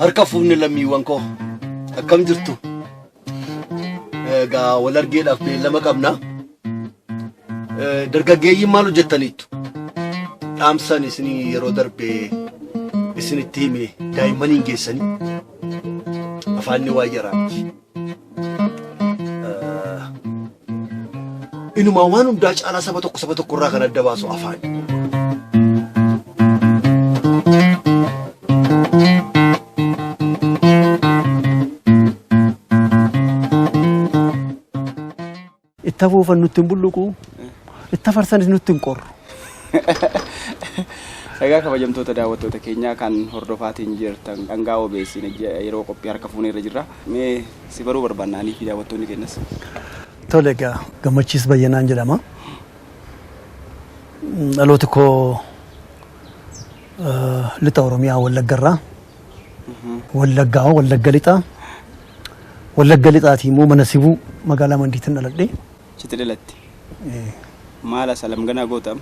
Harka fuunni lammiiwwan koo akkam jirtu? Egaa wal argeedhaaf beellama qabna. Eh, Dargaggeeyyiin maal hojjettaniittu? Dhaamsan isin yeroo darbe isinitti hime daa'immaniin geessanii afaanni waa yaraa miti. Inumaa waan hundaa caalaa saba tokko saba tokko irraa kan adda baasu afaan. Itti afuufan nutti hin bulluqu. Itti afarsanis nutti hin qorru. Egaa kabajamtoota daawwattoota keenyaa kan hordofaatiin jirtan dhangaa obeessiin yeroo qophii harka fuunee irra jirra. Mee si baruu barbaanna anii fi daawwattoonni keenyas. Tole egaa gammachiis bayyanaan jedhama. Dhalooti koo lixa Oromiyaa Wallagga irraa. Wallaggaa hoo Wallagga Lixaa. Wallagga Lixaatii immoo mana sibuu magaalaa Mandiitiin dhaladhe. Achitti dhalatte. Eh, Maal asalam ganaa gootam?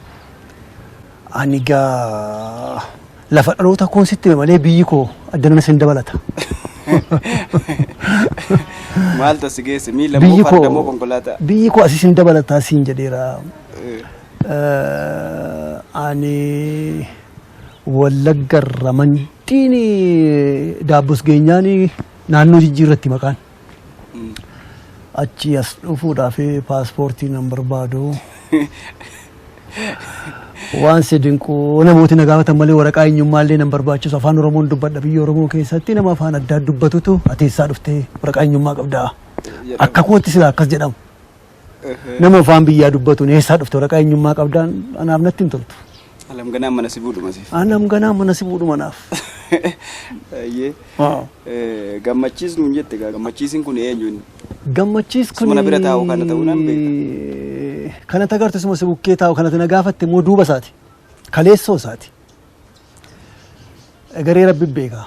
Ani gaa lafa dhaloota koon sitti hime malee biyyi koo addanana sin dabalata. Maal tasi geesse? Miila moo Biyyi koo farda moo konkolaataa? biyyi koo asii sin dabalataa siin jedheera. Eh, Eh, Ani Wallagga irra manni. Diini daabbos geenyaan naannoo jijjiirratti maqaan. Achii as dhufuudhaaf paaspoortii nan barbaadu. Waan si dinqu namooti na gaafatan malee waraqaa eenyummaa illee nan barbaachisu afaan Oromoon dubbadha biyya Oromoo keessatti nama afaan addaa dubbatutu ateessaa dhuftee waraqaa eenyummaa qabdaa. Akka kootti sila akkas jedhamu. Nama afaan biyyaa dubbatuun eessaa dhufte waraqaa eenyummaa qabdaan anaaf natti hin toltu. Alam ganaa mana si buudhuma siif. Anam ganaa mana si buudhuma naaf. Ayyee. Haa. Eh, Gammachiis nuun jette gaa gammachiisiin kun eenyu inni? Gammachiis kun Suma na bira taa'u kana ta'uu nan beeka. Kana tagartu suma si bukkee taa'u kanati na gaafatte immoo duuba isaati. Kaleessoo isaati. Egaree rabbi beekaa.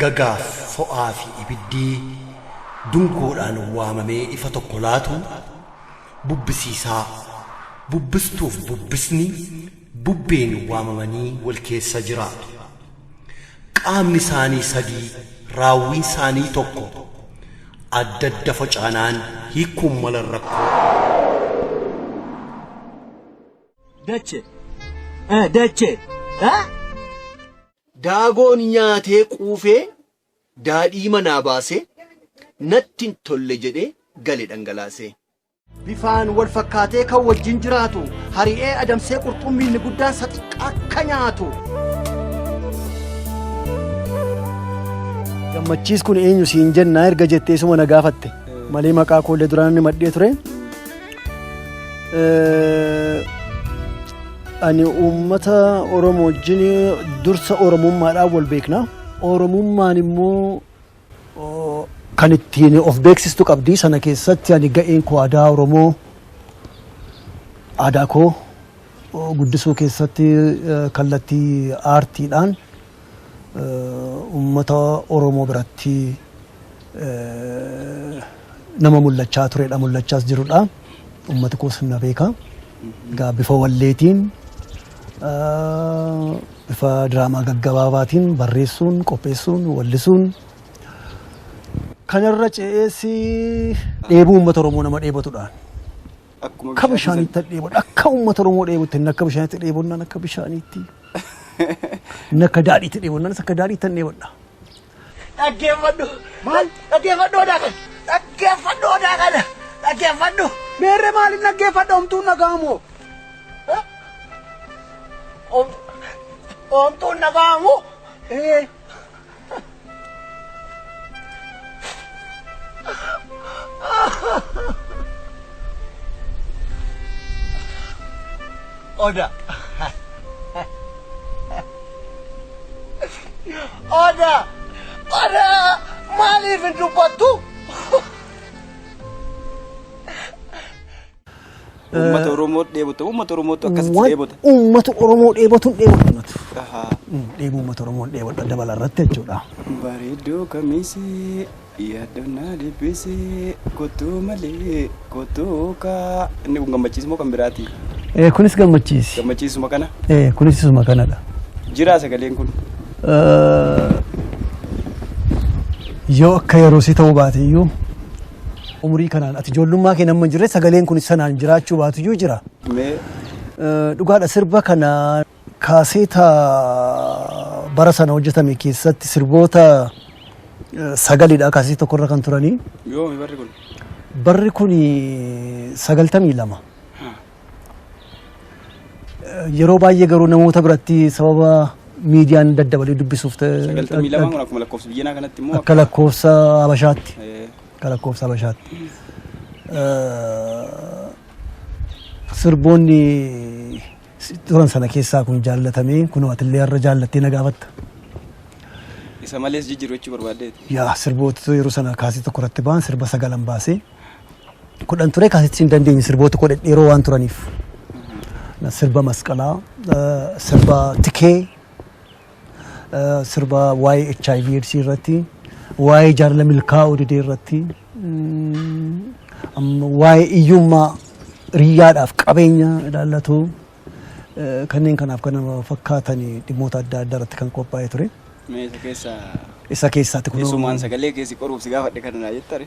Gagaaf fo'aa fi ibiddi dungoodhaan waamamee ifa tokko laatu, bubbisiisaa, bubbistuuf bubbisni, bubbeen waamamanii wal keessa jiraatu. Qaamni isaanii sadii, raawwiin isaanii tokko. Adda adda focaanaan hiikkuun malan rakkoo. Dache. Eh, dache. Eh? Daagoon nyaatee quufee daadhii manaa baasee natti hin tolle jedhee gale dhangalaasee. Bifaan wal fakkaatee kan wajjin jiraatu hari'ee adamsee qurxummii inni guddaan isa xiqqaa akka nyaatu. Gammachiis kun eenyu siin jennaa erga jettee isuma na gaafatte malee maqaa koollee duraan inni madhee ture. Eh, Ani uummata Oromoo wajjin dursa Oromummaadhaan wal beekna. Oromummaan immoo oo, kan ittiin of beeksistu qabdi. Sana keessatti ani ga'een koo aadaa Oromoo aadaa koo oo, guddisuu keessatti eh, kallattii aartiidhaan Uummata Oromoo biratti nama mul'achaa turedha, mul'achaas jirudha. Uummati koos na beeka. Egaa bifa walleetiin, bifa diraamaa gaggabaabaatiin barreessuun, qopheessuun, wallisuun kanarra ce'ees dheebuu uummata Oromoo nama dheebotudha. Akkuma Akka bishaanii bishaaniitti dheebodha. Akka uummata Oromoo dheebotti inni akka bishaaniitti dheebonnaan akka bishaaniitti. Inni akka daadhiitti dheebonnaanis akka daadhiitti hin dheebodha. Dhaggeeffadhu. Maal? Dhaggeeffadhu odaa kana. Dhaggeeffadhu odaa kana. Dhaggeeffadhu. Meerre maaliin dhaggeeffadha omtuun nagaamoo? Omtuun nagaamoo? Ee. Oda. Oda. Oda. Maaliif hin dubbattu? Uummata Oromoo dheebota. Uummata Oromootu akkasitti Waan dheebota. uummata Oromoo dheebotuun dheebota matu. Ahaa. Dheebuu uummata Oromoon dheebodha dabala irratti jechuudha. Bareedduu kamisee yaadannaa deebisee kottuu malee kottuu kaa. Inni kun gammachiisuma kan biraati. Eh, Kunis gammachiisi. Gammachiisuma kana. Eh, Kunis isuma kanadha. Jiraa sagaleen kun. Eh, Yoo akka yeroo si ta'uu baate iyyuu Umurii kanaan ati ijoollummaa kee namma hin jirre sagaleen kun sanaan jiraachuu baatuyyuu jira. Mee Dhugaadha sirba kana kaaseeta bara sana hojjetame keessatti sirboota eh, sagalidha kaasee tokkorra kan turanii. yoomi barri kun? Barri kun sagaltamii lama. Yeroo baay'ee garuu namoota biratti sababa miidiyaan daddabalee dubbisuuf ta'e sagaltamii lama kun akkuma lakkoofsa biyyanaa kanatti immoo akka lakkoofsa Habashaatti Eh, akka lakkoofsa Habashaatti. Eh, Sirboonni turan sana keessaa kun jaallatamee kunoo atillee har'a jaallattee na gaafatta. isa malees jijjiiruu jechuu barbaaddeeti. Yaa sirboota yeroo sana kaasee tokko irratti ba'an sirba sagalan baasee kudhan ture kaasittis hin dandeenye sirboota koo dhedheeroo waan turaniif. Sirba masqalaa, eh, sirba tikee, eh, sirba waa'ee HIV eedsii irratti, waa'ee jaalala milkaa'uu didee irratti, mm, amma waa'ee hiyyummaa riyyaadhaaf qabeenya ilaallatu eh, kanneen kanaaf kan nama fakkaatan dhimmoota adda addaa irratti kan qophaa'ee ture. Mee isa keessa Isa keessaatti kun isumaan sagalee keessi qoruuf si gaafadhe kana naa jettare.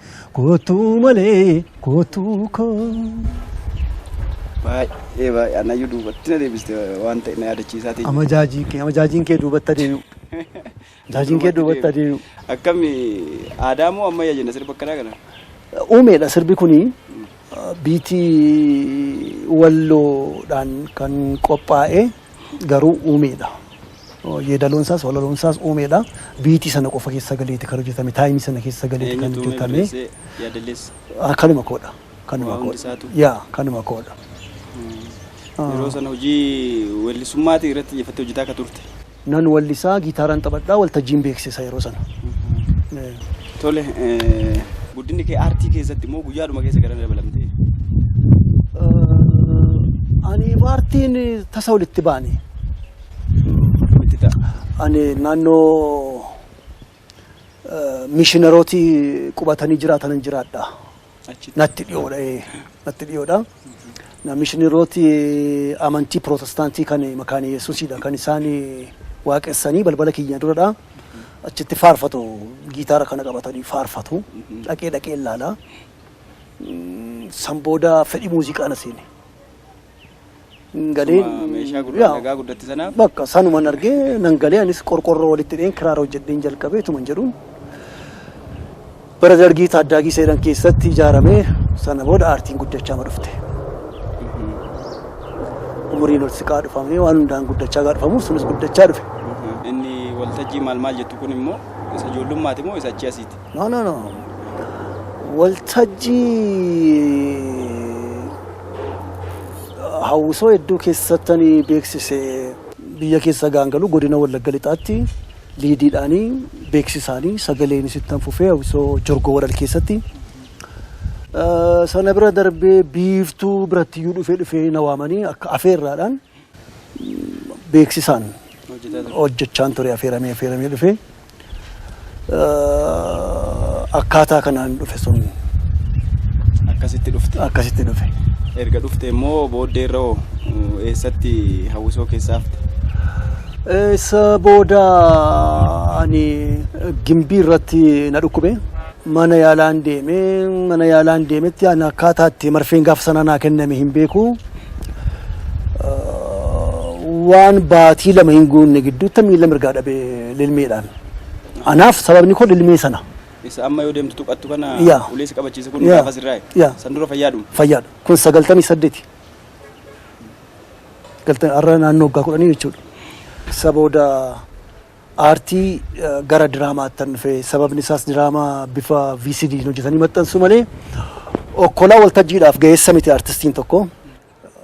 Kootuu malee kootuu koo. Baay'ee baay'ee annayyuu duubatti na deebiste waan ta'e na yaadachiisaa ta'e. Amajaajiin kee amajaajiin kee duubatti adeemu. Amajaajiin kee duubatti adeemu. Akkami aadaa moo ammayyaa jenna sirba akkanaa kana? Uumeedha sirbi kuni biitii walloodhaan kan qophaa'e. garuu uumeedha. Yeedaloon isaas walaloon isaas uumeedha. Biitii sana qofa keessa galeeti kan hojjetame. Taayimii sana keessa galeeti kan Eenyutu hojjetame. barreessee yaadalleessa? Ah, Kanuma koodha. Kanuma Waa hundi koodha. isaatu? Yaa kanuma koodha. Yeroo sana hojii weellisummaatii irratti xiyyeeffattee hojjetaa akka turte. Nan wallisaa giitaaraan taphadhaa waltajjiin beeksisa yeroo sana. Eh, Tole, guddinni kee aartii keessatti immoo guyyaadhuma keessa garana dabalamtee? Ani aartiin tasa walitti baane. Akkamitti ta'a? Ani naannoo miishiinarooti qubatanii jiraatanan jiraadha. natti dhiyoodha. Natti dhiyoodha. Mishinirooti amantii pirootestaantii kan makaana Yesuusiidha kan isaan waaqessanii balbala keenya duradha. Achitti faarfatu giitaara kana qabatanii faarfatu. Dhaqee dhaqee ilaala. San booda fedhii muuziqaa na seene. Hin galee Suma meeshaa gurraan yaa dhagaa guddatti sanaaf. bakka sanuman argee nan galee anis qorqorroo walitti dheen kiraara hojjedheen jalqabee tuman jedhuun bara dargii taaddaagii seeran keessatti ijaaramee sana booda aartiin guddachaa ma dhufte. Umuriin ol siqaa dhufamee waan hundaan guddachaa gaa dhufamu sunis guddachaa dhufe. Inni waltajjii maal maal jettu kun immoo isa ijoollummaati moo isa achi asiiti? No no no waltajjii hawwisoo hedduu keessattanii beeksise. Biyya keessa gaangalu godina Wallagga Lixaatti liidiidhaanii beeksisaanii sagaleen sittan fufee hawwisoo jorgoo walal keessatti. Sana bira darbee biiftuu birattiyyuu dhufee dhufee na waamanii akka afeerraadhaan beeksisaan hojjechaan ture afeeramee afeeramee dhufe. Akkaataa kanaan dhufe sun Akkasitti dhufte. akkasitti dhufe. Erga dhufte immoo booddee irra hoo eessatti hawwisoo keessaa hafte? Isa booda ani gimbii irratti na dhukkube. Mana yaalaan deemee mana yaalaan deemetti ani akkaataa itti marfeen gaafa sana naa kenname hin beeku. waan baatii lama hin guunne gidduutti miila mirgaa dhabe lilmeedhaan. Anaaf sababni koo lilmee sana. Isa amma yoo deemtu tuqattu kana Yaa. ulee si qabachiise kun Yaa. gaafa sirraa'e. Yaa. San dura fayyaadhuma. Fayyaadha. Kun sagaltamii saddeeti. Galta har'a naannoo waggaa kudhanii jechuudha. Isa booda Aartii gara diraamaattan dhufe. Sababni isaas diraamaa bifa VCDn hojjetanii maxxansuu malee okkolaa waltajjiidhaaf ga'eessa miti artistiin tokko.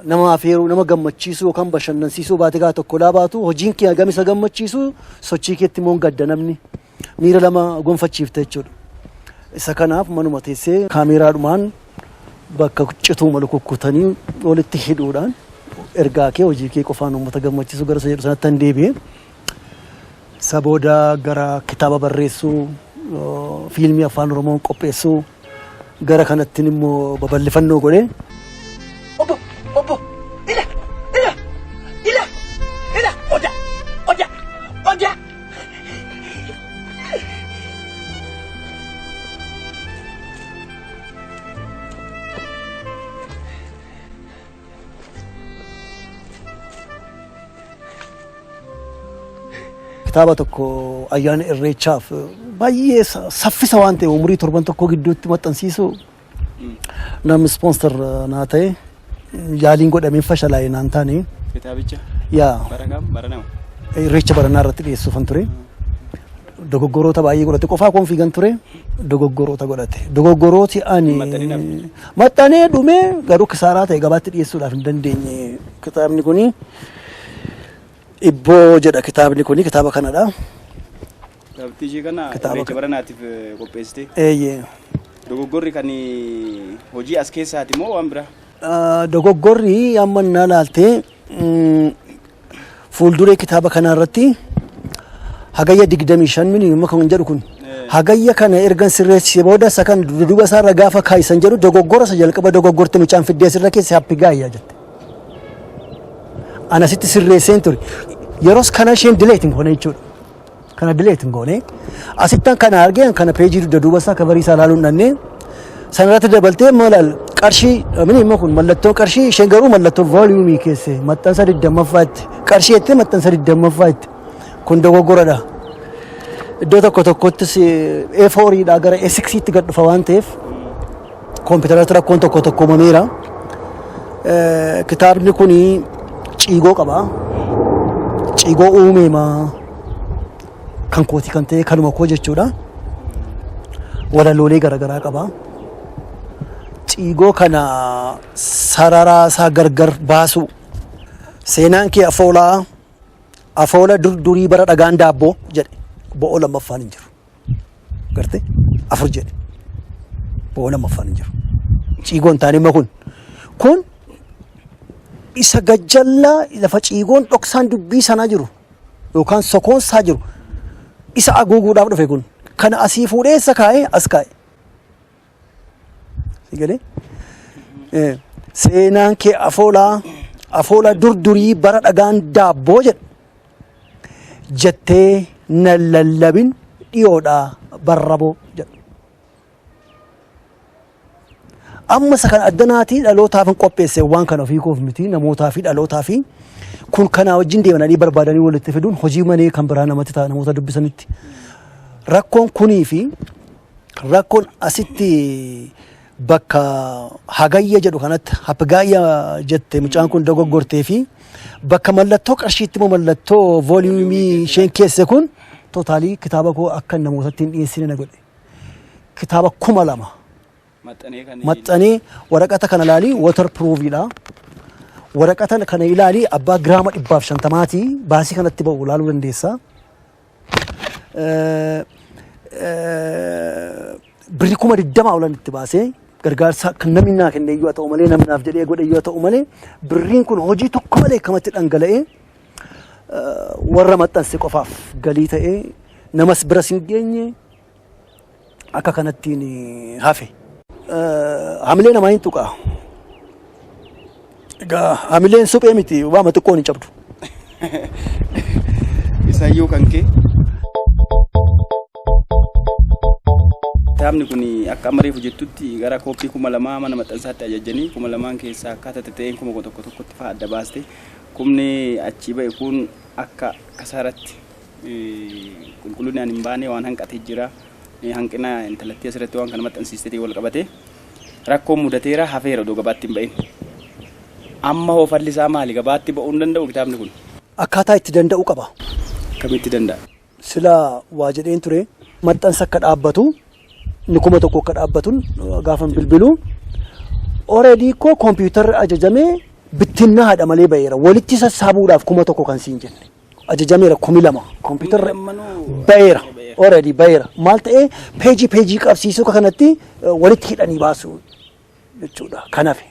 Nama afeeruu, nama gammachiisuu yookaan bashannansiisuu baate gaafa tokkolaa baatu hojiin kee hagam isa gammachiisu sochii keetti immoo hin gadda namni. Miira lama gonfachiifta jechuudha. Isa kanaaf manuma teessee kaameeraadhumaan bakka cituu malu kukkutanii walitti hidhuudhaan ergaa kee hojii kee qofaan uummata gammachiisuu gara isa jedhu sanattan deebi'e. Isa booda gara kitaaba barreessuu, fiilmii afaan Oromoon qopheessuu gara kanattiin immoo babal'ifannoo godhe. Obbo! Obbo! Ila! Ila! Ila! Ila! Oda! Oda! Oda! kitaaba tokko ayyaana irreechaaf baay'ee sa- saffisa waan ta'e umurii torban tokkoo gidduutti maxxansiisu namni ispoonsar naa ta'e yaaliin godhameen fashalaa'e naan taane Kitaabicha yaa bara kam bara nama. irreecha baranaa irratti dhiyeessuufan ture. Dogoggoroota baay'ee godhate qofaa koon fiigan ture dogoggoroota godhate dogoggorooti ani maxxanee dhumee garuu kisaaraa ta'e gabaatti dhiyeessuudhaaf hin dandeenye kitaabni kuni ibboo jedha kitaabni kuni kitaaba kanadha. Kitaabatti ishee kana Kitaaba irreecha kana. baranaatiif eh, qopheessite. Eeyyee. Dogoggorri kan eh, hojii as keessaati moo waan biraa? Ah, Dogoggorri amma na laaltee Fuulduree kitaaba kanaa irratti hagayya 25 mini yommuu kan jedhu kun hagayya kana ergan sirreessee booda isa kan duduba isaa irra gaafa kaa'isan jedhu dogoggora isa jalqaba dogoggorte mucaan fiddee sirra keessa happi gaayyaa jette. Anasitti sirreesseen ture. Yeroos kana isheen dileetiin goone jechuudha. kana dileet hin goone asittan kana argee kana peejii dugda duuba isaa kabarii isaa laaluun dhannee sanarratti dabaltee maalaal qarshii mini immoo kun mallattoo qarshii isheen garuu mallattoo vooliyuumii keesse maxxansa digdammaffaatti qarshii jettee maxxansa digdammaffaatti kun dogoggoradha. Iddoo tokko tokkottis A4 dhaa gara A6 tti gad dhufa waan ta'eef Kompiitarratti rakkoon tokko tokko uumameera. Eh, Kitaabni kun ciigoo qaba. Ciigoo uumeema kan kooti kan ta'e kanuma koo jechuudha. Walaloolee garaagaraa qaba. Ciigoo kana sararaa isaa gargar baasuu. Seenaan kee afoolaa afoola dur durii bara dhagaan daabboo jedhe bo'oo lammaffaan hin jiru. Garte afur jedhe. Bo'oo lammaffaan hin jiru. Ciigoo hin taane immoo kun. Kun isa gajjallaa lafa ciigoon dhoksaan dubbii sanaa jiru yookaan sokoon isaa jiru isa aguuguudhaaf dhufe kun. Kana asii fuudhee isa kaa'ee as kaa'e. Si galee? Eh, Seenaan kee afoolaa afoola durdurii bara dhagaan daabboo jedha. Jettee na lallabin dhiyoodha barraboo jedha. Amma isa kan addanaatii dhalootaaf hin qopheesse waan kan ofii koof miti namootaa fi dhalootaa fi kun kanaa wajjin deemanii barbaadanii walitti fiduun hojii malee kan biraa namatti ta'a namoota dubbisanitti. Rakkoon kunii fi Rakkoon asitti bakka hagayya jedhu kanatti hapgaayya jette mucaan kun dogoggortee fi bakka mallattoo qarshiitti immoo mallattoo vooliyuumii isheen keesse kun tootaalii kitaaba koo akka namootatti hin dhiyeessine na godhe. Kitaaba kuma lama Maxxanee kan maxxanee waraqata kana ilaalii water proofiidha. Waraqata kana ilaalii abbaa giraama dhibbaaf shantamaati baasii kanatti ba'u ilaaluu dandeessa. birri kuma digdamaa olan itti baasee gargaarsa kan namni naa kenne yoo ta'u malee namni naaf jedhee godhe yoo ta'u malee birriin kun hojii tokko malee kamatti dhangala'ee warra maxxanse qofaaf galii ta'ee namas biras hin geenye akka kanattiin hafe. Hamilee namaa hin tuqaa. Egaa hamileen suphee miti waama xiqqoon hin cabdu. Isayyoo kan kee. Kitaabni kun akka amma reefu jettutti gara kooppii kuma lamaa mana maxxansaatti ajajanii kuma lamaan keessaa akkaataa ta'een kuma tokko tokkotti fa'aa adda baaste kumni achii ba'e kun akka kasaaratti qulqullinaan hin baane waan hanqate jira. Hanqina intalattii asirratti waan kana maxxansiisteetiin wal qabatee rakkoon mudateera hafeera odoo gabaatti hin ba'in. Amma hoo falli isaa maali? Gabaatti ba'uu hin danda'u kitaabni kun. Akkaataa itti danda'u qaba. Akkamitti danda'a? Sila waa jedheen ture maxxansa akka dhaabbatu inni kuma tokko akka dhaabbatun gaafan bilbilu oredii koo kompiitarri ajajamee bittinnaa haadha malee ba'eera walitti sassaabuudhaaf kuma tokko kan siin jenne. ajajameera kumi lama kompiitarra bayeera already bayeera maal ta'ee peejii peejii qabsiisuu ka kanatti eh, walitti hidhanii baasuu jechuudha kan hafe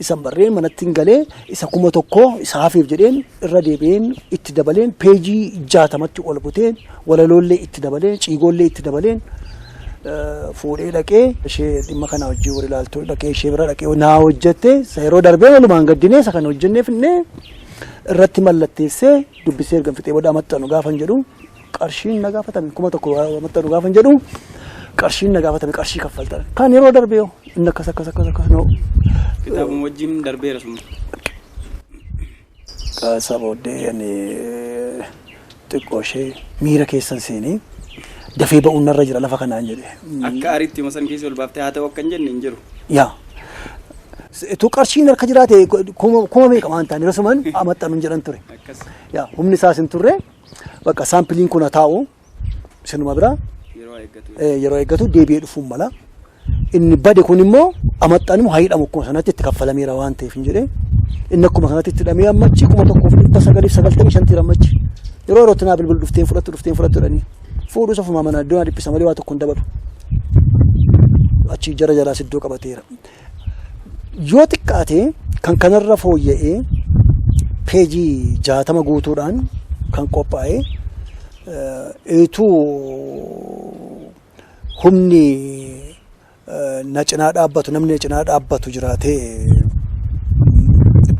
isan barreen manatti hin galee isa kuma tokko isa hafiif jedheen irra deebi'een itti dabaleen peejii jaatamatti ol buteen Walaloollee itti dabalee, ciigoollee itti dabaleen fuudhee dhaqee ishee dhimma kana hojii warri ilaaltuu dhaqee ishee bira dhaqee naa hojjette isa yeroo darbee walumaan gaddinee isa kan hojjennee finnee irratti mallatteessee dubbisee erga fixee booda maxxanu gaafan jedhu qarshiin na gaafatame kuma tokko maxxanu gaafan jedhu qarshiin na gaafatame qarshii kaffaltan kan yeroo darbee inni akkas akkas akkas akkas noo. Kitaabuma wajjin darbeera sun. Caasaa booddee ani xiqqoo ishee miira keessan seenee dafee ba'uun narra jira lafa kanaan jedhe. Akka ariitti masan keessa ol baaftee haa ta'u akka hin jenne hin jiru. Yaa. Utuu qarshiin harka jiraate kuma kuma meeqa waan ta'an irra suman amaxxanuun jedhan ture. Akkas. Yaa humni isaas hin turre bakka saampiliin kun haa taa'u. sanuma bira yeroo eeggatu deebi'ee dhufuun mala. Inni bade kun immoo amaxxaan immoo haidhamu akkuma sanatti itti kaffalameera waan ta'eef hin jedhee inni akkuma sanatti itti hidhamee ammachi kuma tokkoof dhibba sagaliif sagaltamii shantii rammachi yeroo yerootti naa bilbil dhufteen fudhattu dhufteen fudhattu jedhanii fuudhuu sofumaa manaa iddoo naa dhiphisa malee waa tokko hin dabalu. Achi jara jalaas iddoo qabateera. Yoo xiqqaate kan kanarra fooyya'ee peejii jaatama guutuudhaan kan qophaa'e eetuu humni na cinaa dhaabbatu namni na cinaa dhaabbatu jiraatee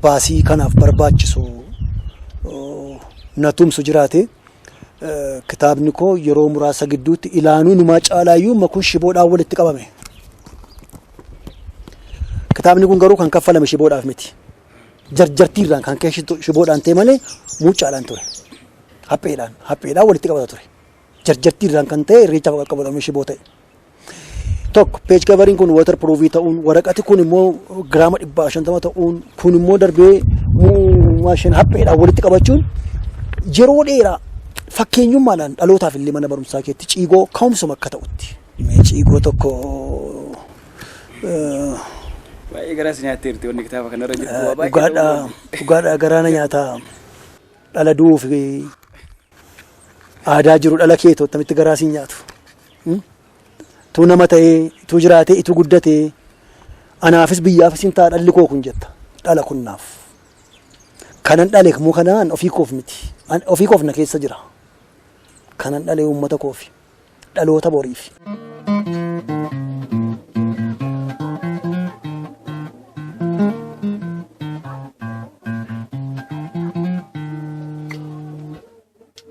baasii kanaaf barbaachisu na tumsu jiraate Kitaabni koo yeroo muraasa gidduutti ilaanuu numaa caalaayyuu makuun shiboodhaan walitti qabame. Kitaabni kun garuu kan kaffalame shiboodhaaf miti. Jarjartiirraan kan ka'e shitu- shiboodhaan ta'e malee muuccaadhaan ture. Hapheedhaan hapheedhaan walitti qabata ture. Jarjartiirraan kan ta'e irreechaaf qaqqabadamee shiboo ta'e. Tokko peeji kavariin kun water proofii ta'uun waraqati kun immoo giraama dhibbaa shantama ta'uun kun immoo darbee maashin hapheedhaan walitti qabachuun yeroo dheeraa fakkeenyummaadhaan dhalootaaf illee mana barumsaa keetti ciigoo ka'umsuma akka ta'utti. Mee ciigoo tokko Baay'ee garaa si nyaattee jirti wanni kitaaba kanarra jirtu. waa baay'ee dhugaadhaa ta'uu dhugaadhaa garaana nyaataa dhala du'uuf aadaa jiru dhala keetu attamitti garaa siin nyaatu. Tuu nama ta'ee, tuu jiraatee, ituu guddatee anaafis biyyaafis hin ta'a dhalli koo kun jetta. Dhala kun naaf. Kanan dhale immoo kanaan ofii koof miti. An- Ofii koof na keessa jira. Kanan dhale uummata koofi. Dhaloota boriifi.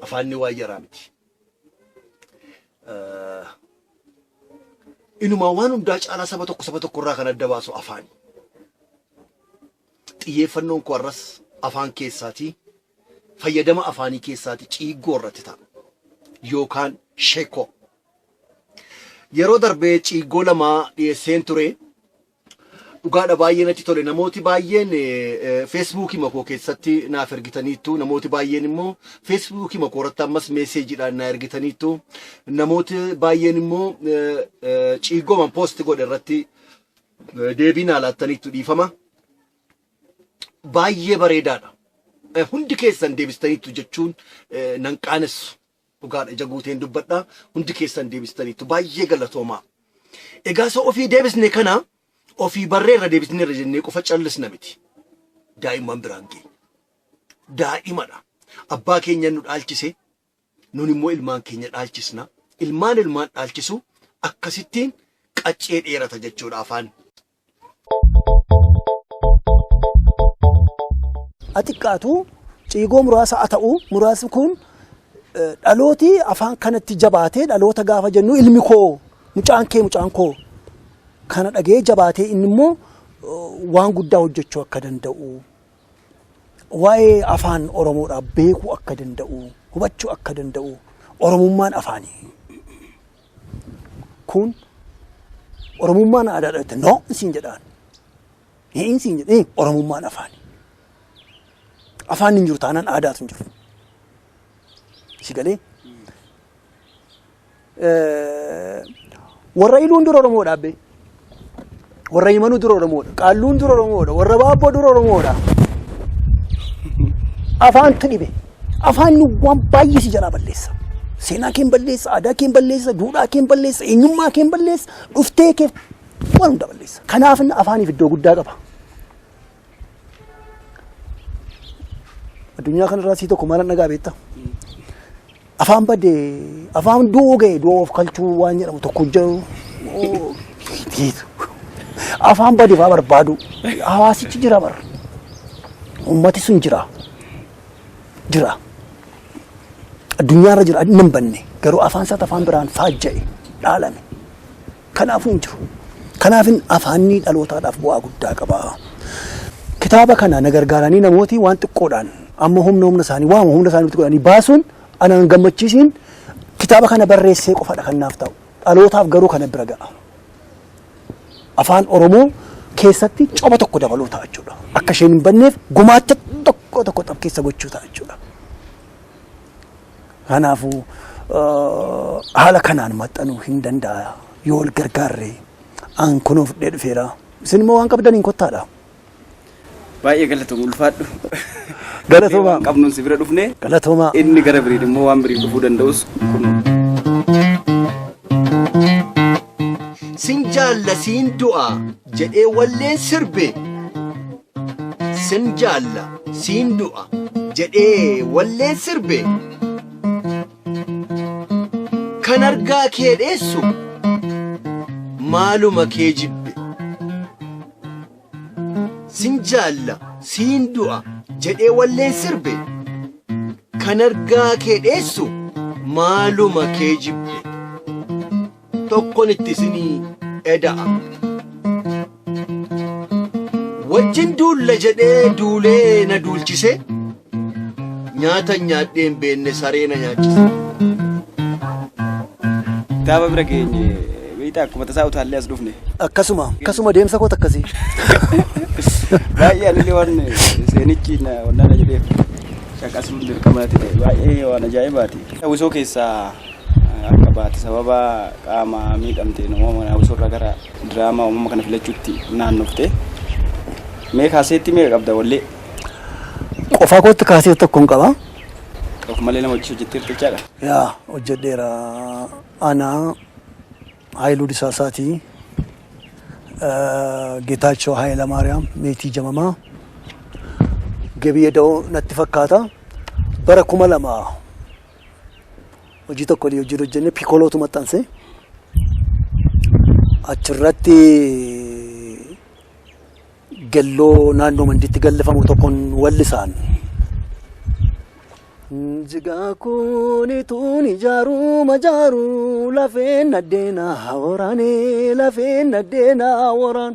afaanni waa jaraa miti. Inumaa waan hundaa caalaa saba tokko saba tokko irraa kan adda baasu afaani. Xiyyeeffannoon koo har'as afaan keessaatii fayyadama afaanii keessaatii ciiggoo irratti ta'a. Yookaan sheekoo. Yeroo darbee ciiggoo lamaa dhiyeesseen ture. Dhugaadha baay'ee natti tole namooti baay'een feesbuukima koo keessatti naaf ergitaniittu namooti baay'een immoo feesbuukima koo irratti ammas meeseejiidhaan naa ergitaniittu namooti baay'een immoo ciigooman poosti godhe irratti deebii naa laattaniittu dhiifama baay'ee bareedaadha hundi keessan deebistaniittu jechuun nan qaanessu Dhugaadha ija guuteen dubbadha hundi keessan deebistaniittu baay'ee galatoomaa. Egaa isa ofii deebisne kana ofii barree irra deebisne irra jennee qofa callisna miti. Daa'imman biraan geenye. Daa'imadha. Abbaa keenya nu dhaalchise nun immoo ilmaan keenya dhaalchisna. Ilmaan ilmaan dhaalchisu akkasittiin qaccee dheerata jechuudha afaan. a xiqqaatu ciigoo muraasa a ta'u muraasi kun eh, dhalooti afaan kanatti jabaatee dhaloota gaafa jennu ilmi koo mucaan kee mucaan koo kana dhagee jabaatee inni immoo eh, waan guddaa hojjechuu akka danda'u waa'ee afaan oromoodhaa beekuu akka danda'u hubachuu akka danda'u oromummaan afaanii Kun Oromummaan aadaa dha. No siin jedhaan. Hin siin jedhee Oromummaan afaani. Afaan hin jiru taanaan aadaatu hin jiru. Si galee? Warra Iluun dura Oromoo dhaabbe. Warra Yimanuu dura Oromoodha. Qaalluun dura Oromoodha. Warra Baabboo dura Oromoodha. Afaantu dhibe. Afaan waan baay'ee si jalaa balleessa. Seenaa keen balleessa, aadaa keen balleessa, duudhaa keen balleessa, eenyummaa keen balleessa, dhuftee kee waan hunda balleessa. Kanaaf inni afaaniif iddoo guddaa qaba. Addunyaa kanarraa sii tokko maalan dhagaa beektaa? Afaan badde afaan du'uu ga'e du'a of kalchuu waan jedhamu tokko jiru. Afaan badde fa'aa barbaadu hawaasichi jira bar. Uummati sun jira. Jira. Addunyaarra jira nan banne garuu afaan isaatti afaan biraan faajja'e dhaalame. Kanaafuu hin jiru. Kanaafin afaanni dhalootaadhaaf bu'aa guddaa qaba. Kitaaba kana na gargaaranii namooti waan xiqqoodhaan amma humna humna isaanii waama humna isaanii walitti godhanii baasuun anaan gammachiisiin kitaaba kana barreessee qofadha kan naaf ta'u. Dhalootaaf garuu kana bira ga'a. Afaan Oromoo keessatti coba tokko dabaluu ta'a jechuudha. Akka isheen hin banneef gumaacha tokko tokko xab keessa gochuu ta'a jechuudha. Kanaafuu haala kanaan maxxanuu hin danda'a yoo wal gargaarre aan kunoo fudhee dhufeera. Isin immoo waan qabdaniin kottaadha. Baay'ee galatoom ulfaadhu. Galatoomaa. Waan qabnuun si bira dhufne Galatoomaa. inni gara biriin immoo waan biriin dhufuu danda'us kunoo. Sin jaalla siin du'a. jedhee walleen sirbe sin jaalla siin du'a jedhee walleen sirbe kan argaa kee dheessu maaluma kee jibbe sin jaalla siin du'a jedhee walleen sirbe kan argaa kee dheessu maaluma kee jibbe tokkon itti isinii eda'a. Wajjin duulla jedhee duulee na duulchise nyaata nyaadhee hin beenne saree na nyaachise. Kitaaba bira geenye beektaa akkuma tasaa utaallee as dhufne. Akkasuma akkasuma deemsa koota akkasii. Baay'ee alillee waan seenichi na wannaa na jedheef caqasuun dirqama natti ta'e baay'ee waan ajaa'ibaati. Wisoo keessaa Akka baate sababa qaama miidhamteen uumama kana hawwisurra gara diraamaa uumama kana filachuutti naannofte. Mee kaaseetti meeqa qabda wallee? Qofaa kootti kaasee tokkoon qaba. Of malee nama hojii hojjetteerta jechaadha. Yaa hojjedheera anaa Haayiluu Disaasaatii Geetaachoo Haayila Maariyaam Meetii Jamamaa Gebii Eda'oo natti fakkaata bara kuma lama hojii tokko olii hojii hojjenne pikolootu maxxanse achirratti gelloo naannoo mandiitti gallifamu tokkoon wallisaan. Jigaa kuni tuni jaaru majaaru lafeen naddeena waraane lafeen naddeena waraan.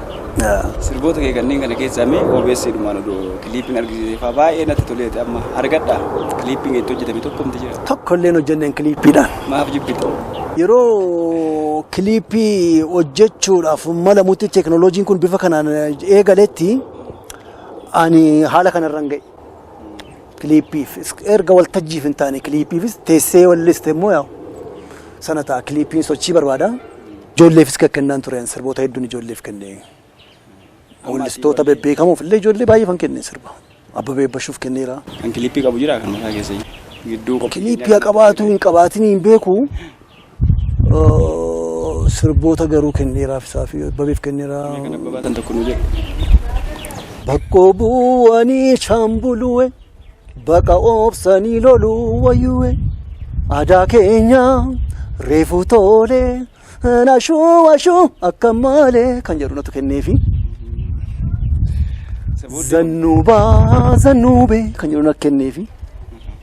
Sirboota kee kanneen kana keessaa mee OBS dhumaan oduu kiliipiin argisiisee fa'aa baay'ee natti toleeti amma argadha. Kiliipiin itti hojjetame tokko miti jira. Tokko illee hojjenneen kiliippiidhaan. Maaf jibbita? Yeroo kiliippii hojjechuudhaaf malamutti teekinooloojiin kun bifa kanaan eegaletti ani haala kanarraan ga'e. Kiliippiif erga waltajjiif hin taane kiliippiifis teessee yoo liste immoo yaa sana ta'a kiliippiin sochii barbaada. Ijoolleefis kan kennaan ture sirboota hedduun ijoolleef kenne. Wallistoota bebbeekamuuf illee ijoollee baay'ee kan kenne sirba. Abbabee Bashuuf kenneera. Kan kiliippii qabu jira kan mataa keessa gidduu qophii. Kiliippii haa qabaatu hin qabaatin hin beeku. sirboota garuu kenneeraaf isaa fi babeef kenneera. Kan abba baatan tokko nu jedhu. Bakkoo bu'anii shaambuluwe baqa obsanii loluu wayyuwe aadaa keenya reefuu toole nashuu washuu akka maalee kan jedhu natu kenneefi. Zannuubaa zannuubee kan jedhu natu kenneefi.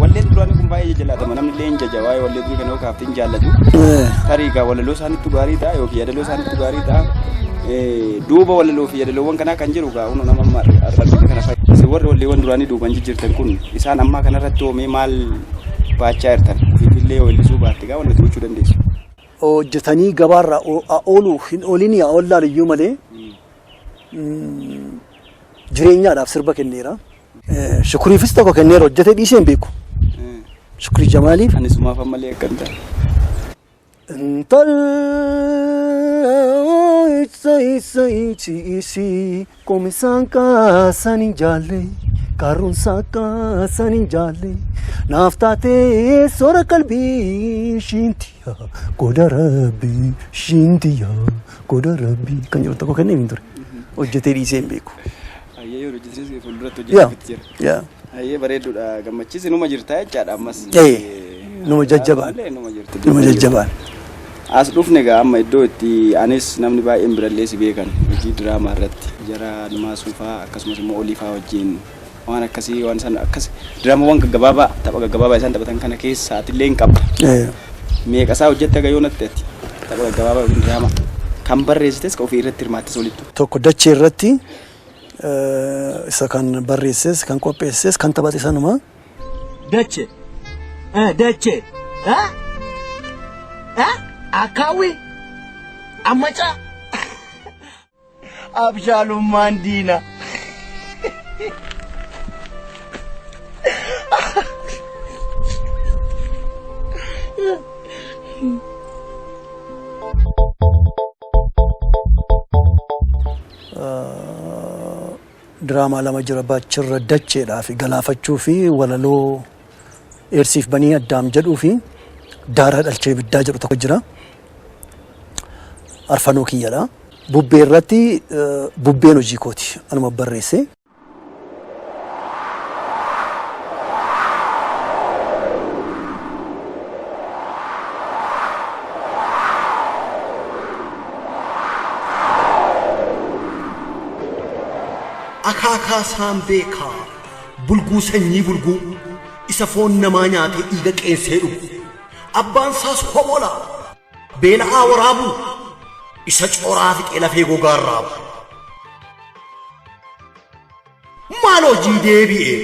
Walleen duraanii kun baay'ee jajjallaatama namni illee hin jaja waa'ee wallee durii kana yookaan haftiin jaallatu. Tarii egaa walaloo isaaniitu gaarii ta'a yookiin yaadaloo isaaniitu gaarii ta'a. Duuba walaloo fi yaadaloowwan kanaa kan jiru egaa hundi nama amma arfaatiin kana fayyadamu. Warri walleewwan duraanii duuban jijjiirtan kun isaan ammaa kanarratti hoomee maal baachaa jirtan? Ofiifillee yoo illisuu baatte egaa wanti gochuu dandeessu. Hojjetanii gabaarraa ooluu hin oolin yaa oollaan iyyuu malee jireenyaadhaaf sirba kenneera. Shukuriifis tokko kenneera hojjetee dhiisee hin beeku. Shukrii Jamaaliif. Ani sumaaf ammallee akka hin taane. Intalaa isa isa ichi isi komisaan kaasan hin jaalle kaarunsaa kaasan hin jaalle naaf taatee soora qalbii shiintiya goda rabbii shiintiya goda rabbii kan jedhu tokko kennee hin ture hojjetee dhiisee hin beeku. Hayyee yoo hojjetis fuulduratti Yaa, hojjechuufitti jira. yaa. Hayyee bareedduudha gammachiis inuma jirtaa jechaadha ammas. Ee, numa jajjabaan. Malee inuma jirti. Numa jajjabaan. As dhufne egaa amma iddoo itti anis namni baay'een birallee si beekan hojii diraamaa irratti jara Admaasuu faa akkasumas immoo Olii faa wajjin waan akkasii waan isaan akkas diraamawwan gaggabaabaa tapha gaggabaabaa isaan taphatan kana keessa atillee hin qabda. Ee, Meeqa isaa hojjette aga yoo natti ati tapha gaggabaabaa yookiin diraamaa kan barreessites ka ofii irratti hirmaattes olittu. Tokko dachee irratti Isa kan barreesses kan qopheesses kan taphate sanuma. Dache. Eh, dache. Eh? Eh? Akawi. Amaca. Abshaalummaan diina. Diraamaa lama jira Baachirra Dacheedhaa fi Galaafachuu fi walaloo Eersiif Banii Addaam jedhuu fi Daaraa Dhalchee Ibiddaa jedhu tokko jira. Arfanuu kiyyadha. Bubbee irratti eh, bubbeen hojii kooti. Anuma barreesse. Akaakaa isaan beeka bulguu sanyii bulguu isa foon namaa nyaatee dhiiga qeensee dhugu abbaan isaas homola Beela'aa waraabuu isa coraa fixee lafee gogaa raabu. Maal hojii deebi'ee?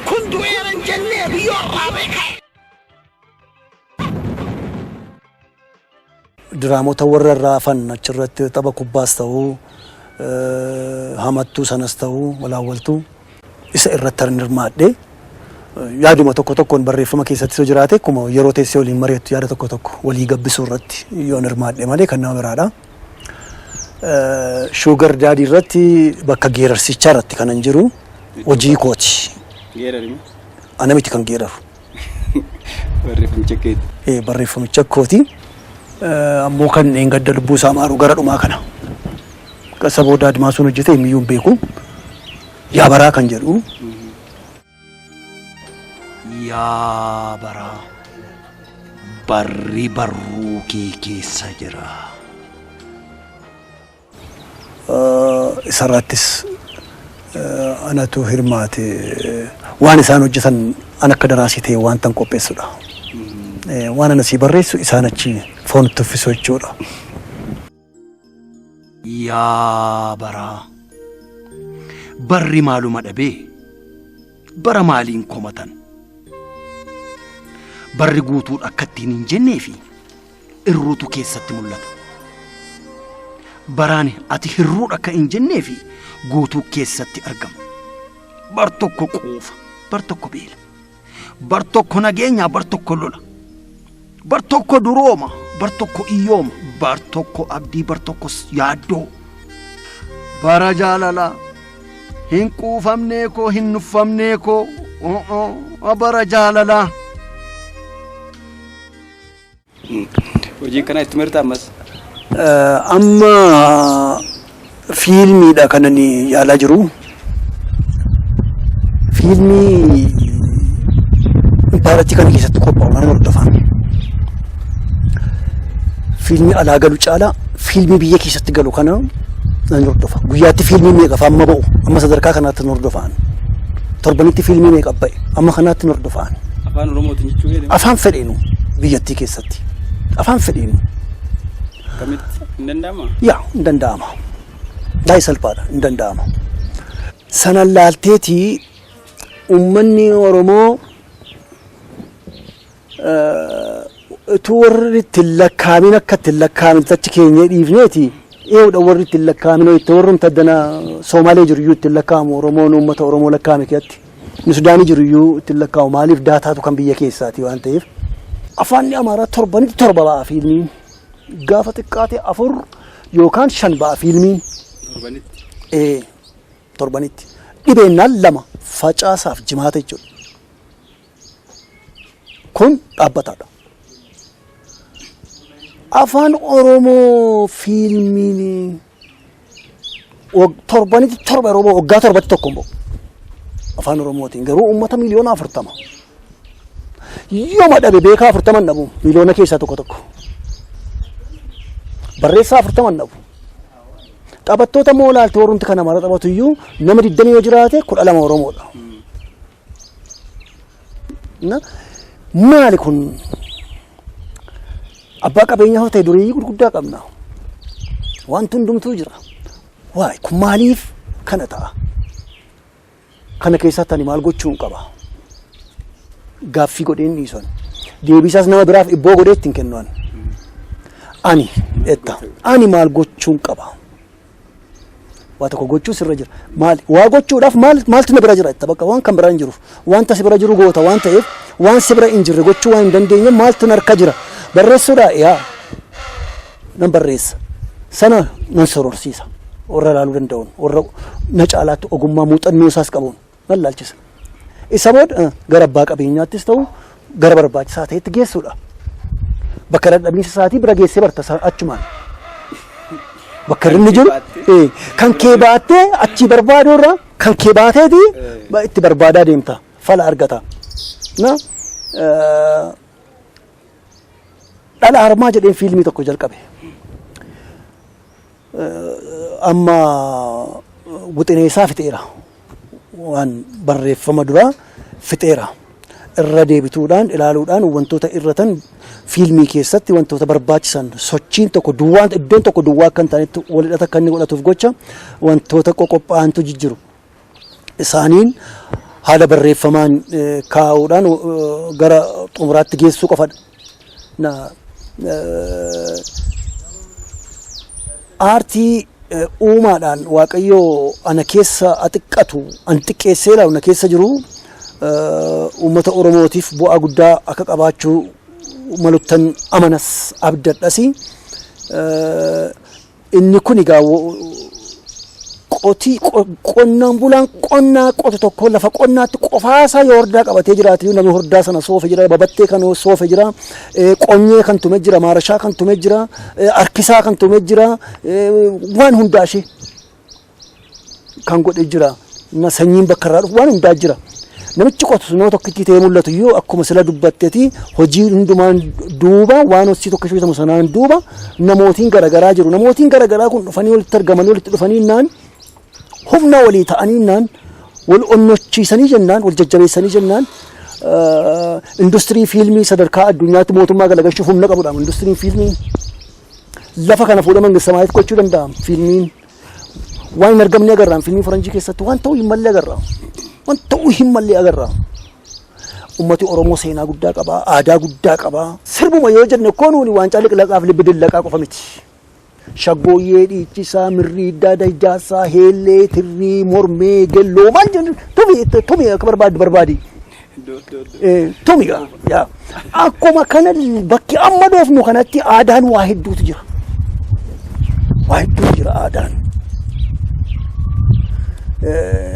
Kun du'eera hin jennee biyyoo irraa beekee. Diraamota warra irraa hafan achirratti tapha kubbaas ta'uu hamattuu sanas ta'uu walaawwaltuu. isa irrattan hirmaadhe. Yaaduma tokko tokkoon barreeffama keessattis yoo jiraate akkuma yeroo teessee waliin mari'attu yaada tokko tokko walii gabbisuu irratti yoon hirmaadhe malee kan nama biraadha. Shuugar daadii irratti bakka geerarsichaa irratti kanan jiru hojii kooti. Geerarima. Ana miti kan geeraru. Barreeffamicha keeti. Eh, barreeffamicha kooti. Eh, ammoo kan dheengadda lubbuu isaa maaru gara dhumaa kana. Qasa booda Admaasuun hojjete emiyyuu hin beeku. Yaa baraa kan jedhu. Yaa baraa. Barri barruu kee keessa jira. isarraattis anatu hirmaate waan isaan hojjetan an akka daraasii ta'e waantan qopheessudha. Waan ana sii barreessu isaan achi foon itti uffisu jechuudha. Yaa baraa! Barri maaluma dhabee? Bara maaliin komatan? Barri guutuudha akka ittiin hin jenneefi? irruutu keessatti mul'ata. Baraan ati hirruudha akka hin jennee fi guutuu keessatti argama. Bar tokko quufa, bar tokko beela. Bar tokko nageenya, bar tokko lola. Bar tokko durooma, bar tokko iyyooma, bar tokko abdii, bar tokko yaaddoo. Bara jaalalaa hin quufamnee koo hin nuffamnee koo bara jaalalaa. Hojii kana itti mirta ammas. Amma fiilmiidha kanan yaalaa jiru. Fiilmii impaaratii kana keessatti qophaa'u nan hordofa. Fiilmii alaa galu caalaa fiilmii biyya keessatti galu kana nan hordofa. Guyyaatti fiilmii meeqa fa'aa amma ba'u amma sadarkaa kanaatti nan hordofaan. Torbanitti fiilmii meeqa ba'e amma kanaatti nan hordofaan. Afaan Oromootiin jechuu heerin. Afaan fedheenu biyyattii keessatti. Afaan fedheenu. Akkamitti hin danda'ama? Yaa hin danda'ama. Baay'ee salphaadha hin danda'ama. Sana laalteetii uummanni Oromoo utuu warri itti hin lakkaamin akka itti hin lakkaamin achi keenya dhiifneeti eewudha warri itti hin lakkaamin itti warrumti addana Soomalee jiru iyyuu itti hin lakkaamu Oromoon uummata Oromoo lakkaame keessatti. Inni Sudaanii jiru iyyuu itti hin lakkaa'u. Maaliif daataatu kan biyya keessaati waan ta'eef. Afaanni Amaaraa torbanitti torba ba'a fiilmiin. Gaafa xiqqaate afur yookaan shan ba'a fiilmiin. Torbanitti. Ee, torbanitti. Dhibeennaan lama facaasaaf jimaata jechuudha. Kun dhaabbataadha. Afaan Oromoo fiilmiin torbanitti torba yeroo ba'u waggaa torbatti tokko hin ba'u. Afaan Oromootiin garuu uummata miliyoona afurtama. Yooma dhabe beekaa afurtama hin dhabu miliyoona keessaa tokko tokko. Barreessaa afurtama hin dhabu. Taphattoota moo ilaalte warrumti kana mara taphatu iyyuu nama digdamii yoo jiraate kudha lama Oromoodha. Na maali kun? Abbaa qabeenyaa hoo ta'e dureeyyii gurguddaa qabna. Wanti hundumtuu jira. Waay kun maaliif kana ta'a? Kana keessatti ani maal gochuun qaba? Gaaffii godheen dhiisan. Deebiisaas nama biraaf ibboo godhee ittiin kennuan. Ani etta. Ani maal gochuun qaba? waa tokko gochuu sirra jira maali waa gochuudhaaf maal maaltu na bira jira itti bakka waan kan biraa hin jiruuf wanta si bira jiru goota waan ta'eef waan si bira hin jirre gochuu waan hin dandeenye maaltu narka jira barreessuudha yaa nan barreessa sana nan sororsiisa warra ilaaluu danda'uun warra na caalaatti ogummaa muuxannoo isaas qabuun wallaalchisa. Isa booda gara abbaa qabeenyaattis ta'u gara barbaachisaa ta'etti geessuudha. Bakka dadhabinsa isaatii bira geessee barta isaa achumaan. Bakka inni jiru ee, kan kee baattee achii barbaaduu irraa kan kee baateeti ba- itti barbaadaa deemta fala argata. Na eh, dhala harmaa jedheen fiilmii tokko jalqabe. amma wixinee isaa fixeera. waan barreeffama duraa fixeera. Irra deebituudhaan ilaaluudhaan wantoota irratan fiilmii keessatti wantoota barbaachisan sochiin tokko duwwaan iddoon tokko duwwaa akka hin taanetti walhidhata akka inni godhatuuf gocha wantoota qoqophaa'antu jijjiru. Isaaniin haala barreeffamaan kaa'uudhaan gara xumuraatti geessuu qofadha. na aartii uumaadhaan waaqayyoo ana keessa xiqqatu an xiqqeessee ilaalu na keessa jiru uummata oromootiif bu'aa guddaa akka qabaachuu maluttan amanas abdadhasi Inni kun egaa qotii qonnaan bulaan qonnaa qotu tokko lafa qonnaatti qofaasaa yoo hordaa qabatee jiraate namni hordaa sana soofe jira babattee kan soofe jira qonyee kan tume jira maarashaa kan tume jira harkisaa kan tume jira waan hundaa ishee kan godhe jira. Amma sanyiin bakka irraa dhufu waan hundaa jira. Namichi qotu sun yoo tokkichi ta'ee mul'atu yoo akkuma sila dubbatteeti hojii hundumaan duuba waan hojii tokko bitamu sanaan duuba namootiin garaagaraa jiru. Namootiin garaagaraa kun dhufanii walitti argamanii walitti dhufanii naan humna walii ta'anii naan wal onnachiisanii jennaan wal jajjabeessanii jennaan eh, industirii fiilmii sadarkaa addunyaatti mootummaa galagalchuuf humna qabudha. Industiriin fiilmii lafa kana fuudhee mangisamaayif gochuu danda'a fiilmiin. Waan hin argamne agarraan fiilmii faranjii keessatti waan ta'uu hin malle agarraa. Waan ta'uu hin malle agarraa. Uummati Oromoo seenaa guddaa qabaa, aadaa guddaa qabaa. Sirbuma yoo jenne koo nuuni waancaa liqlaqaaf libbi dillaqaa qofa miti. Shaggooyyee, dhiichisaa, mirriiddaa, daydaassaa, heellee, tirrii, mormee, gelloo maal jennu tumi tumi akka barbaaddu barbaadi. Tumi yaa akkuma kana bakki amma dhoofnu kanatti aadaan waa hedduutu jira. Waa hedduutu jira aadaan.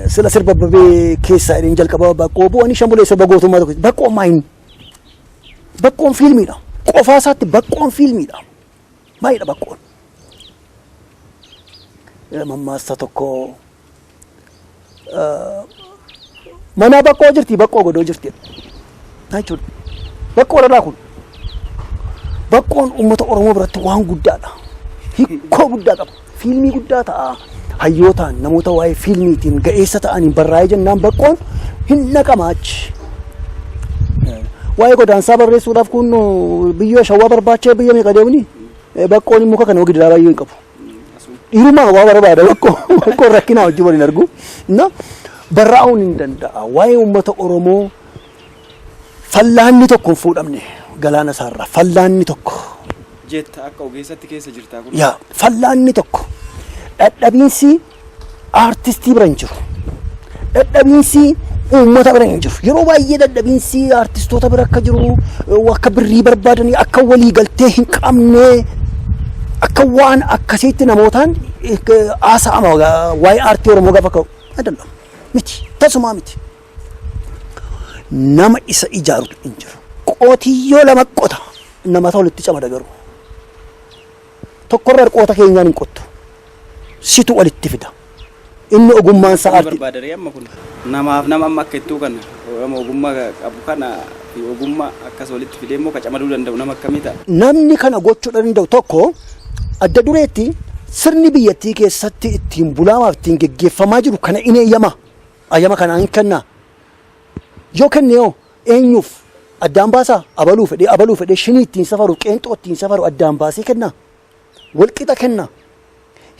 Sila sirba babee keessaa inni jalqaba baqqoo bu'anii shamulee sirba gootummaa tokko baqqoo maayin baqqoon fiilmiidha. Qofaa isaatti baqqoon fiilmiidha. Maayidha baqqoon. Mammaassa tokko manaa baqqoo jirti baqqoo godoo jirti jechuudha. Baqqoo irraa kun baqqoon uummata Oromoo biratti waan guddaadha. Hikkoo guddaa qaba. Fiilmii guddaa ta'a. Hayyootaan namoota waa'ee fiilmiitiin ga'eessa ta'aniin barraa'ee jennaan baqqoon hin naqama achi. Waa'ee godaansaa barreessuudhaaf kun biyyoo shawwaa barbaachee biyya meeqa deemni baqqoon muka kana gidiraa baay'ee hin qabu. Dhiirummaa qabaa barbaada wakkoo wakkoo rakkinaa hojii waliin argu na barraa'uun hin danda'a waa'ee uummata Oromoo fallaanni tokko hin fuudhamne galaana isaarraa fallaanni tokko Jetta akka ogeessatti keessa jirtaa kun. yaa fallaanni tokko dhadhabiinsi aartistii bira hin jiru. Dadhabiinsi uummata bira hin jiru. Yeroo baay'ee dadhabiinsi aartistoota bira akka jiru eh, akka birrii barbaadanii akka walii galtee hin qabne akka waan akkasiitti namootaan eh, haasa'ama eh, waa'ee aartii Oromoo gaafa ka'u. Adalla miti tasumaa miti. Nama isa ijaarutu hin jiru. Qotiyyoo lama qota namata walitti camada garuu. tokko irra harqoota keenyaan hin qottu. Situ walitti fida. Inni ogummaan isaa Namni aartiidha. barbaada ree amma kun namaaf nama amma akka ittuu kana nama ogummaa qabu kana fi ogummaa akkas walitti fidee immoo ka camaduu danda'u nama akkamii ta'a? Namni kana gochuu danda'u tokko adda dureetti sirni biyyattii keessatti ittiin bulaamaaf ittiin geggeeffamaa jiru kana in eeyyama. Ayyama kana in kenna. Yoo kenne hoo Eenyuuf? Addaan baasaa? Abaluu fedhee, abaluu fedhee shinii ittiin safaru, qeenxoo ittiin safaru addaan baasee kennaa? Wal qixa kennaa?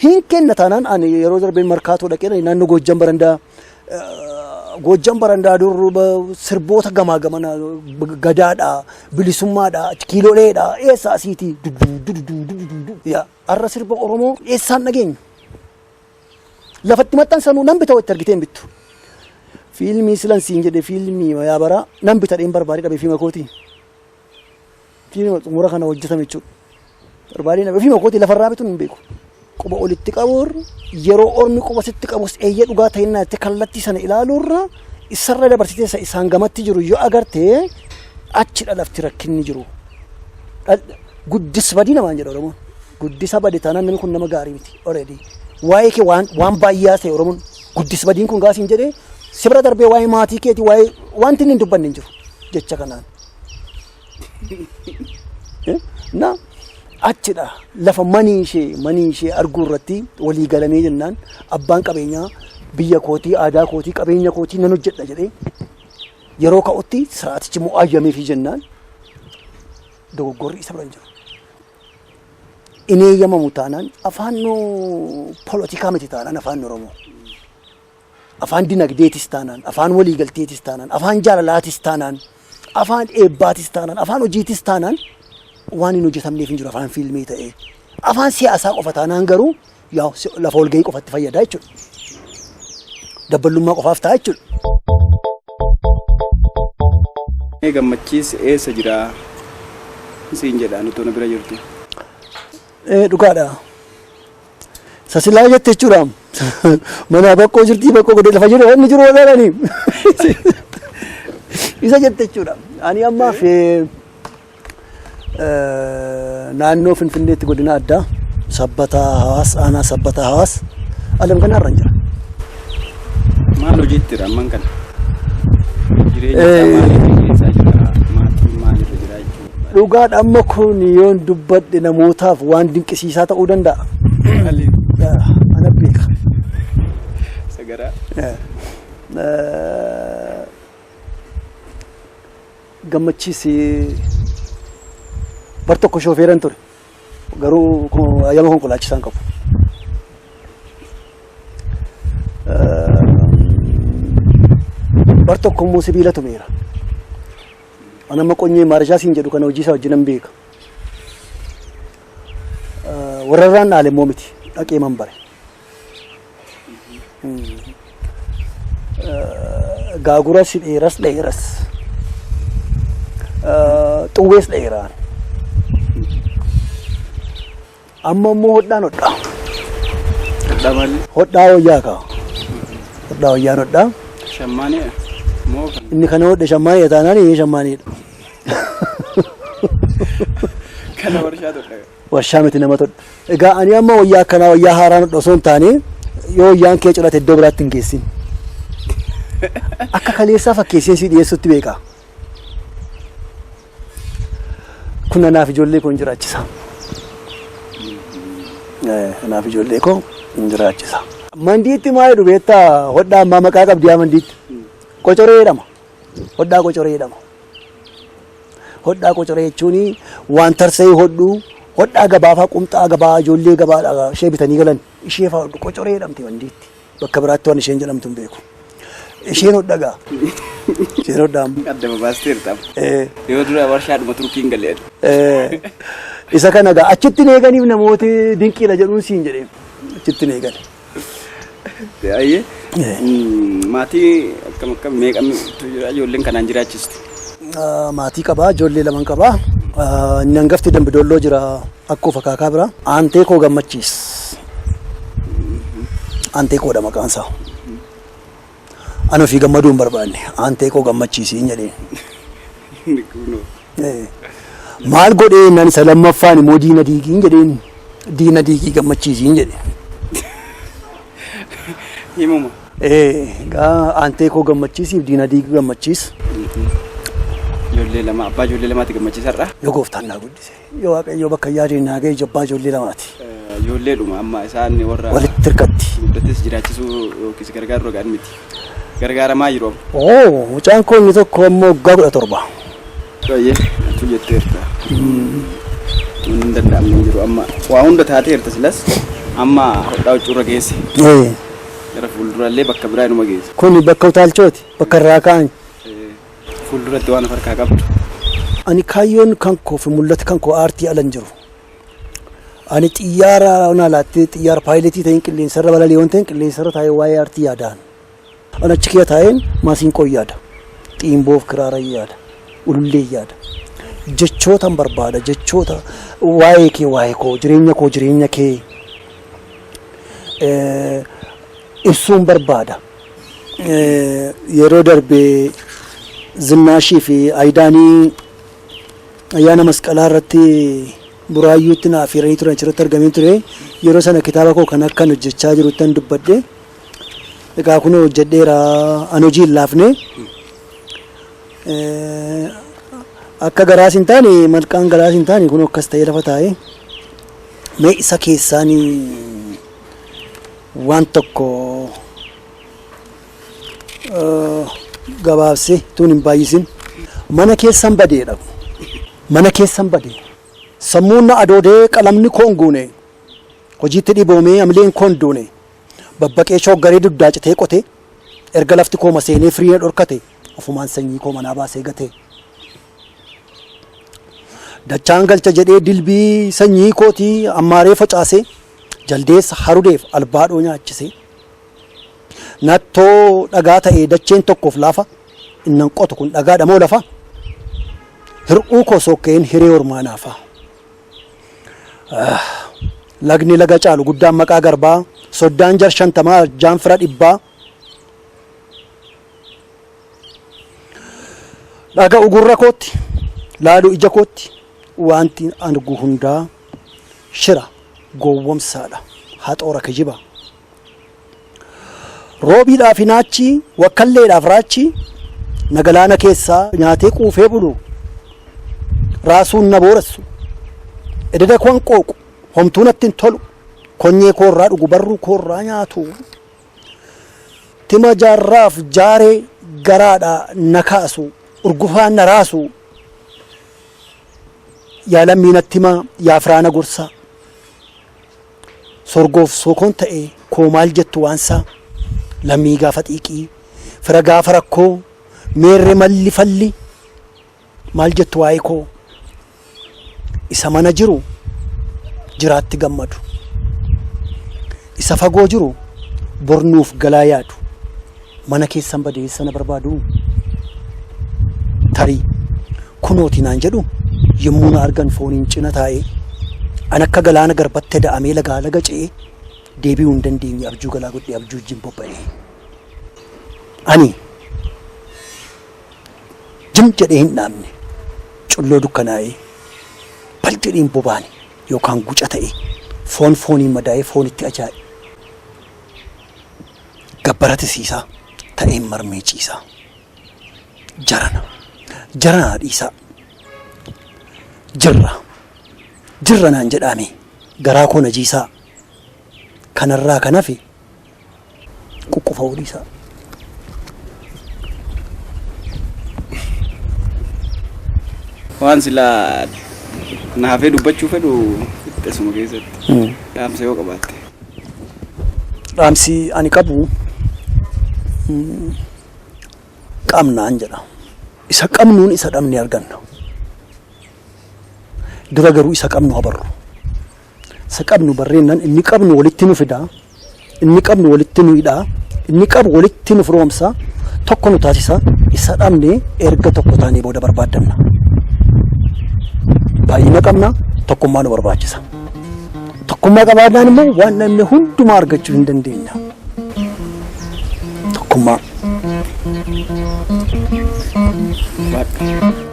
Hin kenna taanaan ani yeroo darbeen markaatoo dhaqee naannoo Goojjan Barandaa Goojjan Barandaa dur sirboota gamaa gamana gadaadha, bilisummaadha, kiiloleedha, eessa asiiti? Duduu duduu duduu duduu. Yaa har'a sirba Oromoo eessaan dhageenyu? lafatti maxxansanuu nan bita watti argitee hin bittu. Fiilmii silan siin jedhe fiilmii wayaa baraa nan bita dheen barbaadee dhabe fiima kooti. Fiilmii xumura kana hojjetame jechuudha. Barbaadee dhabe fiima kooti lafarraa bituun hin beeku. Quba olitti qabuur yeroo ormi quba sitti qabus eeyyee dhugaa ta'innaa jettee kallattii sana ilaaluurra isarra dabarsitee isa isaan gamatti jiru yoo agarte achidha lafti rakkinni jiru. Dhal- Guddis badii namaan jedha Oromoon. Guddisa bade taanaan namni kun nama gaarii miti already. Waa'ee kee waan waan baay'ee haasa'e Oromoon guddisa badiin kun gaasiin jedhee si bira darbee waa'ee maatii keetii waa'ee wanti inni hin dubbanne hin jiru jecha kanaan. Eh, Na achidha lafa manii ishee manii ishee arguu irratti walii galamee jennaan abbaan qabeenyaa biyya kootii aadaa kootii qabeenya kootii nan hojjedha jedhee yeroo ka'utti sa'aatichi mo'aayyamee fi jennaan dogoggorri isa bira hin jiru. hin eeyyamamu taanaan afaan nu polotikaa miti taanaan afaan Oromoo. Afaan dinagdeetis taanaan, afaan waliigalteetis taanaan, afaan jaalalaatis taanaan, afaan eebbaatis taanaan, afaan hojiitis taanaan waan hin hojjetamneef hin jiru afaan fiilmii ta'ee. Afaan siyaasaa qofa taanaan garuu Yaa lafa walgahii qofatti fayyadaa jechuudha. Dabballummaa qofaaf ta'a jechuudha. Mee gammachiis eessa jira siin jedhaan utuu na bira jirtu. Ee dhugaadha. Sasilaa jette jechuudha. Manaa bakkoo jirtii bakkoo godhee lafa jiru inni jiru walaalani. Isa jette jechuudha. Ani ammaaf ee, naannoo Finfinneetti godina addaa sabbataa hawaas aanaa sabbataa hawaas alam kanarra jira. Maal hojiitti jira amman kana? Jireenya isaa maaliif gaggeessaa jira? Maatiin maalirra jira jechuudha? Dhugaadha amma kun yoon dubbadhe namootaaf waan dinqisiisaa ta'uu danda'a. Maaliif? Ana beeka. Sagaraa? Gammachiis bar tokko shoofeeran ture. Garuu ko- hayyama konkolaachisaa hin qabu. Bar tokko immoo sibiila tumeera. An amma qonyee maarshaa siin jedhu kana hojii isaa wajjin nan beeka. Warrarraan dhaale immoo miti dhaqee man bare. gaagura si dheeras dheeras xuwwees dheeraan amma immoo hodhaan hodhaa Hodhaa maali? hodhaa wayyaa kaa hodhaa wayyaan hodhaa Shammaanee moo kan inni kana hodhe shammaanii taanaan inni shammaaniidha kana warshaa tokko. Warshaa miti nama todha. Egaa ani amma wayyaa akkanaa wayyaa haaraa hodha osoo hin taane yoo wayyaan kee codhate iddoo biraatti hin geessin. Akka kaleessaa fakkeessee si dhiyeessutti beeka. Kun anaaf ijoollee koo hin jiraachisa. Eh, Anaaf ijoollee koo hin jiraachisa. Mandiitti maa jedhu beektaa hodhaa ammaa maqaa qabdi yaa mandiitti. Qocoree jedhama. Hodhaa qocoree jedhama. Hodhaa qocoree jechuun waan tarsa'ee hodhuu hodhaa gabaafaa qumxaa gabaa ijoollee gabaadha ishee bitanii galan ishee fa'aa hodhu qocoree jedhamti wandiitti bakka biraatti waan isheen jedhamtu hin beeku. Isheen hodha gaa. Isheen hodhaa amma. Adda babaasteerta. Eh, Yoo dura warshaadhuma turkiin galee. eh, Isa kana gaa achitti hin eeganiif namooti dinqiidha jedhuun siin jedhee achitti hin eegani. Ayyee. Maatii akkam akkam meeqa tu jira ijoolleen kanaan jiraachistu? Ah, maatii qabaa ijoollee laman qabaa Ah, inni hangafti dambidoolloo jira akkoo fakaakaa bira aantee koo gammachiis aantee koodha maqaan isaa An ofii gammaduu hin barbaanne. Aantee koo gammachiisi hin jedheen. Inni kunoo. Maal godhee nan isa lammaffaan immoo diina diigii hin jedheen. Diina diigii gammachiisi hin jedhe. Himuma. Egaa aantee koo gammachiisiif diina diigii gammachiis. Ijoollee lama abbaa ijoollee lamaati gammachiisarra. Yoo gooftaan naa guddise. Yoo waaqayyoo bakka hin yaadeen naa ga'e jabbaa ijoollee lamaati. Ijoolleedhuma amma isaan warra Walitti hirkatti. guddates jiraachisuu yookiis gargaaruu ragaan miti. Gargaaramaa jiru amma. Oo mucaan koo inni tokko amma waggaa kudha torba. Baay'ee natti jetteerta. Kun hin danda'amne hin jiru amma. Waa hunda taateerta silas amma hodhaa huccuurra geesse. Ee, Gara fuulduraallee bakka biraa inuma geesse. Kun bakka utaalchooti bakka irraa ka'an Fuulduratti waan of harkaa qabdu. Ani kaayyoon kan koo fi mul'ati kan koo aartii ala hin jiru. Ani xiyyaara onaa laattee xiyyaara paayileetii ta'een qilleensarra balalee waan ta'een qilleensarra taa'ee waa'ee aartii yaadaan. Ani achi kiyya taa'een maasiinqoo yaada. Xiimboo fi kiraara yaada. Ulullee yaada. Jechoota hin barbaada. Jechoota waa'ee kee waa'ee koo jireenya koo jireenya kee ibsuun barbaada. Yeroo darbe Zinnaashii fi Ayidaanii ayyaana masqalaa irratti Buraayyuutti na afeeranii turan achirratti argameen ture. Yeroo sana kitaaba koo kan akkan hojjechaa jiruttan dubbadhe. Egaa kun hojjedheera an hojii hin laafne. Akka garaas hin taane malqaan galaas hin taane kun akkas ta'ee lafa taa'e. Mee isa keessaanii Waan tokko gabaabsee tuun hin baay'isin. Mana keessan badeedha. Mana keessan bade. Sammuun na adoodee qalamni koo hin guune. Hojiitti dhiboomee amileen koo hin duune. Babbaqee shooggaree duddaa citee qotee. Erga lafti koo maseenee firii na dhorkate. Ofumaan sanyii koo manaa baasee gatee. Dachaan galcha jedhee dilbii sanyii kootii ammaaree facaasee jaldeessa harudeef albaadhoo nyaachisee nattoo dhagaa ta'ee dacheen tokkoof laafa innan qotu kun dhagaadha moo lafa hir'uu koo sookkeen hiree ormaa naafa lagni laga caalu guddaan maqaa garbaa soddaan jar shantamaa jaan fira dhibbaa dhaga'u gurra kootti laalu ija kootti wanti argu hundaa shira gowwomsaadha haxoora kijiba roobiidhaaf hinaachi wakkalleedhaaf raachi na galaana keessaa nyaatee quufee bulu raasuun na booressu ededa koon qooqu homtuu natti hin tolu konyee koorraa dhugu barruu koorraa nyaatu Tima jaarraaf jaaree garaadhaa na kaasu urgufaan na raasu Yaa lammii natti himaa yaa firaa na gorsaa Sorgoof sookoon ta'e koo maal jettu waansaa Lammii gaafa xiiqii fira gaafa rakkoo meerre malli falli Maal jettu waa'ee koo? Isa mana jiru jiraatti gammadu. Isa fagoo jiru bor nuuf galaa yaadu. Mana keessan badee eessa na barbaadu? Tarii kunooti naan jedhu yommuu na argan fooniin cina taa'ee an akka galaana garbatte da'amee lagaa laga ce'ee deebi'uu hin dandeenye abjuu galaa godhee abjuu wajjin bobba'ee. Ani Jim jedhee hin dhaabne, culloo dukkanaa'ee, bal jedhee hin bobaane yookaan guca ta'ee, foon fooniin madaa'ee foonitti ajaa'e, gabbara tisiisaa ta'een marmee ciisaa. Jarana. Jarana naa dhiisaa. Jirra. Jirra naan jedhaamee. Garaa koo na jiisaa. Kanarraa kan hafe Quqqufa horii isaa. Waan silaa na hafee dubbachuu fedhu dhessuma keessatti dhaamsa yoo qabaatte. Dhaamsi ani qabu mm, qabnaan jedha. Isa qabnuun isa dhabne arganna. Dura garuu isa qabnu habarru. Isa qabnu barreennan inni qabnu walitti nu fida. Inni qabnu walitti nu hidha. Inni qabu walitti nu firoomsa. Tokko nu taasisa. Isa dhabne erga tokko taanee booda barbaaddanna. Baay'ina qabna. Tokkummaa nu barbaachisa. Tokkummaa qabaannaan immoo waan namni hundumaa argachuu hin dandeenya. Tokkummaa.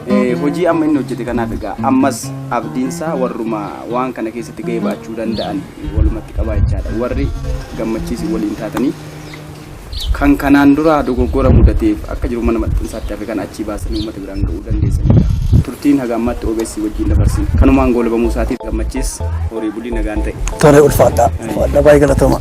Eh, hojii amma inni hojjete kanaaf egaa ammas abdiinsaa warruma waan kana keessatti gahee ba'achuu danda'an walumatti qabaa jechaadha. Warri gammachiisi waliin taatanii kan kanaan dura dogoggora mudateef akka jiru mana maxxansaatti hafe kan achii baasanii uummata biraan ga'uu dandeessanidha. Turtiin haga ammaatti OBS wajjin dabarsin kanumaan goolabamuu isaatiif gammachiis horii bulii nagaan ta'e. Tole ulfaadhaa. Ulfaadhaa baay'ee galatoomaa.